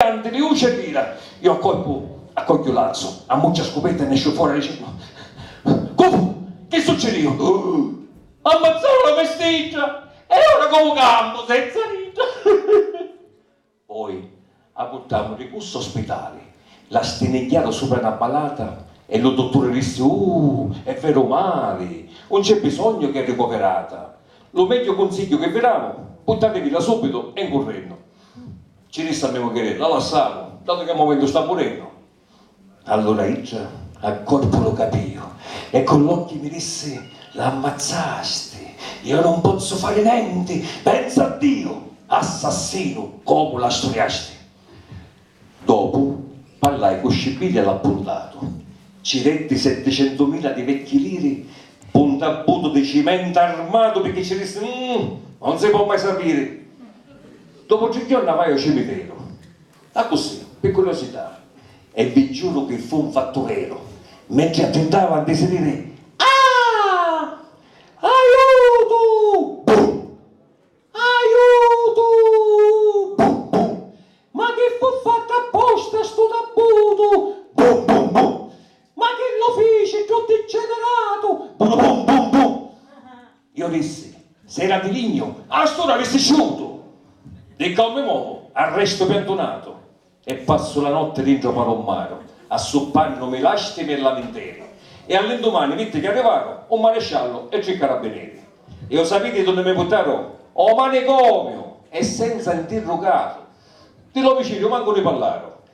Tanti di uci e dira, iu a corpu a cogghiu l'asu, ammucciu a scupetta e nesciu fora dicennu, Cu fu? Chi succidìu? M'ammazzaru la mestiggia! E ora comu campu senza d'idda? Poi a purtamu di cussa o spitali, la stinigghiaru supra na palata e lu dutturi dissi, Uh! È veru mali, un c'è bisognu chi è ricovirata. Lu megghiu cunsigghiu chi vi damu, purtatevilla subitu e 'n currennu. Ci rista a me mugghieri, la lassamu, datu che a mumentu sta murennu. Allura idda a corpu lu capìu e cu l'occhi mi dissi, la ammazzasti, io non pozzu fari nenti, pensa a Diu, assassinu, comu la sturiasti. Dopu parlai cu Scibili e l'appuntatu, ci detti setticentumila di vecchi liri p'u ntabbutu di cimenta armatu picchì ci dissi, umm, non si po' mai sapiri. Dopu tri jorna vai ô cimiteru. Accussì, pi curiosità. E vi giuru chi fu 'n fattureru. Mentri attittava di sidiri, Ah! Aiutu! Bum! Aiutu! Bum bum! Ma chi fu fattu apposta stu tabbutu? Bum bum bum! Ma chi lu fici ddu digeneratu? Buru bum bum bum! Iu dissi, Si era di lignu, a st'ura avissi sciutu! Di ccà mi movu, arrestu piantunatu e passu la notti dintra u palummaru, assuppannumi lastimi e laminteri. E all'indumani vitti chi arrivaru u maresciallu e tri carabbineri. E u sapiti dunni mi purtaru? O manicomiu! E senza ntirrugatu! Di l'omicidiu mancu ni parlaru.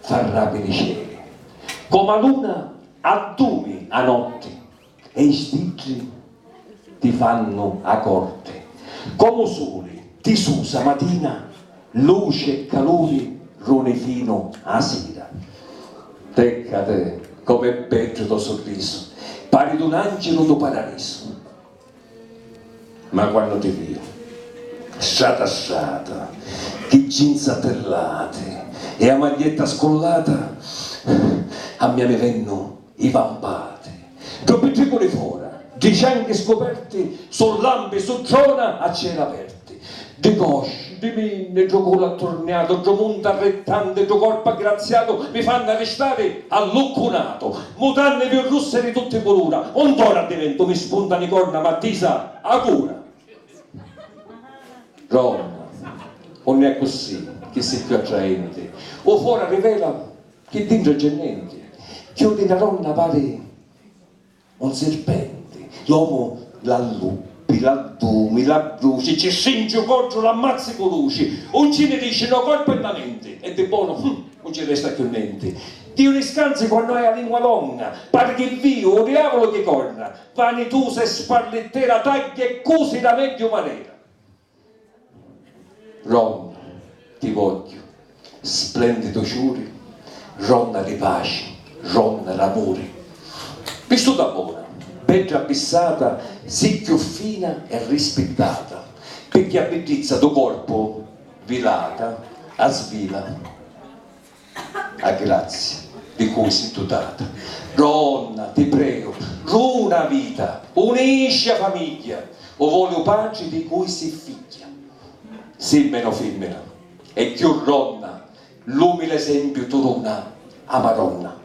Farrati li celi. Comu 'a luna addumi 'a notti e i stiddi ti fannu 'a corti. Comu 'u suli ti susa 'a matina, luci e caluri runi finu 'a sira. Peccati, comu è beddu to' surrisu, pari d'un angelu do' paradisu. Ma quannu ti viu, strata strata, ti jeans attirlati e 'a maglietta scullata, a mia mi vennu i vampati. Ddu pittriculi fora, ddi cianghi scuperti, su lampi, su drona a cieli aperti. Ddi cosci, ddi minni, ddu culu atturniatu, ddu munti arrittanti, ddu corpu aggraziatu mi fannu arristari alluccunatu. Mutanni più russi e di tutti culura, un tora addiventu, mi spuntanu i corna ma tisa a cura. Roma, unni è cussi, chi si chiù attraenti, u fora rivela chi dintra c'è nenti, chiudi na donna pari. Un sirpenti, l'omu l'alluppi, l'addumi, l'adduci, ci strinci u coddu, l'ammazzi cu luci, un ci ni dici no corpu e na menti, e di bonu, hum, un ci resta chiù nenti. Diu ni scanzi quannu hai a lingua longa, pari chi viu u diavulu chi corna, vanitusa e sparlittera, tagghia e cusi la megghiu manera. Ron, ti vogghiu, splendidu ciuri, Ron ri paci, Ron ramuri. Vistuta bona, beddra abbissata, Si cchiù fina e rispittata, Pirchì a biddizza du corpu, vilata, a svila. A grazia di cui si dutata. Donna, ti preu, runa a vita, unisci a famigghia, u voli u patri di cui si figghia. Simmina o fimmina, e cchiù ronna, l'umili esempiu tu duna, a Madonna.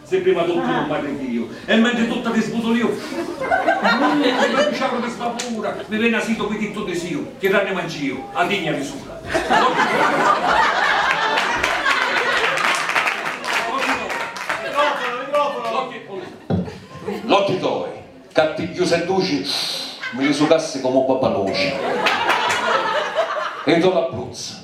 Sei prima d'uttimu un marridiu e mentri tutta ti sbutuliu Mille prima ti ciaru di sbavura mi veni asitu pi dittu disiu chi ranni manciu a digna di sula L'occhi toi ca tigghiusa e duci mi li sucassi comu babanuci e i to labbruzza